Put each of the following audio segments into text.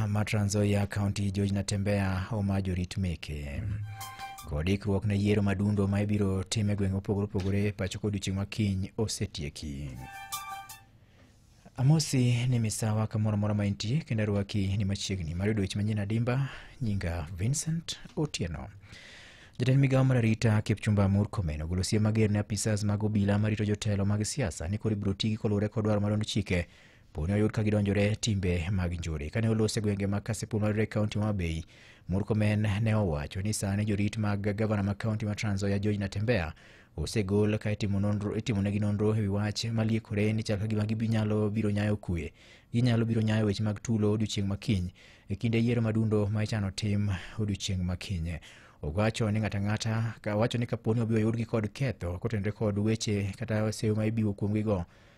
ma Trans Nzoia County George Natembeya oma jorit meke. Kod ikruok ne yiero madundo ma ibiro tim e gwenge mopogore opogore pacho kod odiechieng' ma kiny osetieki. Amosi ni misawa kamoro amora ma intie kendo arwaki ni machiegni mar yudo weche manyien adimba. Nyinga Vincent Otieno. Jatend migawo mar arita Kipchumba Murkomen ogolo siem mager ne apisas mag obila marito jotelo mag siasa ni koro ibiro tigi koluwore kod dwaro mar duond chike Poni oyud ka gidonjore timbe mag njore. Kane olos e gwenge mag Kasipul mayudore e kaunti ma Homa Bay, Murkomen ne owacho ni sani jorit mag gavana ma kaunti ma Trans Nzoia George Natembeya osegol ka itimo nonro itimonegi nonro ewi wach maliekore ni chal ka gima ginyalo biro nyayo kue. Ginyalo biro nyayo weche mag tulo odiochieng' ma kiny e kinde yiero madundo ma ichano tim odiochieng' ma kiny. Owacho ni ng'ato ang'ata ka wacho ni kaponi obiro yudgi kod ketho kotenore kod weche kata seyo ma ibiwo kuomgigo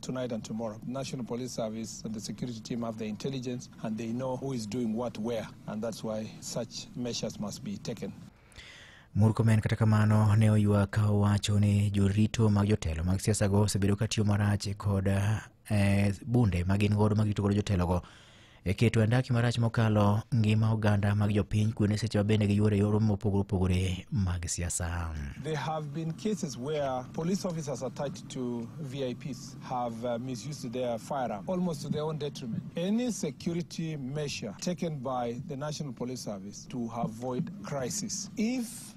tonight and tomorrow. National Police Service and the security team have the intelligence and they know who is doing what where, and that's why such measures must be taken. Murkomen kata kamano ne oywak owacho ni jorito mag jotelo mag siasago osebedo ka tiyo marach kod eh, bunde ma gin godo ma gito godo jotelogo e keto andaki marach mokalo ngima oganda mag jopiny kuonde seche ma bende giyuoro yoro mopogore opogore mag siasa. There have been cases where police officers attached to VIPs have uh, misused their firearm almost to their own detriment. Any security measure taken by the National Police Service to avoid crisis. If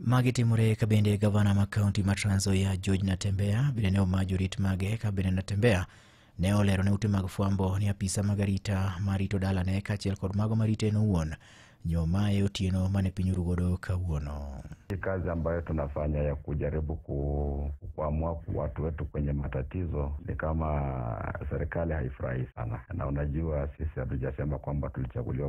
Magi timore ka bende gavana ma kaunti ma Trans Nzoia George Natembeya bende ne omayo jorit mage ka bende Natembeya ne olero ne ute mag fwambo ni apisa mag arita marito dalane kaachiel kod mago marite en owuon nyomaye otieno mane piny oru godo kawuono. Hii kazi ambayo tunafanya ya kujaribu ku- kukwamua watu wetu kwenye matatizo ni kama serikali haifurahi sana, na unajua sisi hatujasema kwamba tulichaguliwa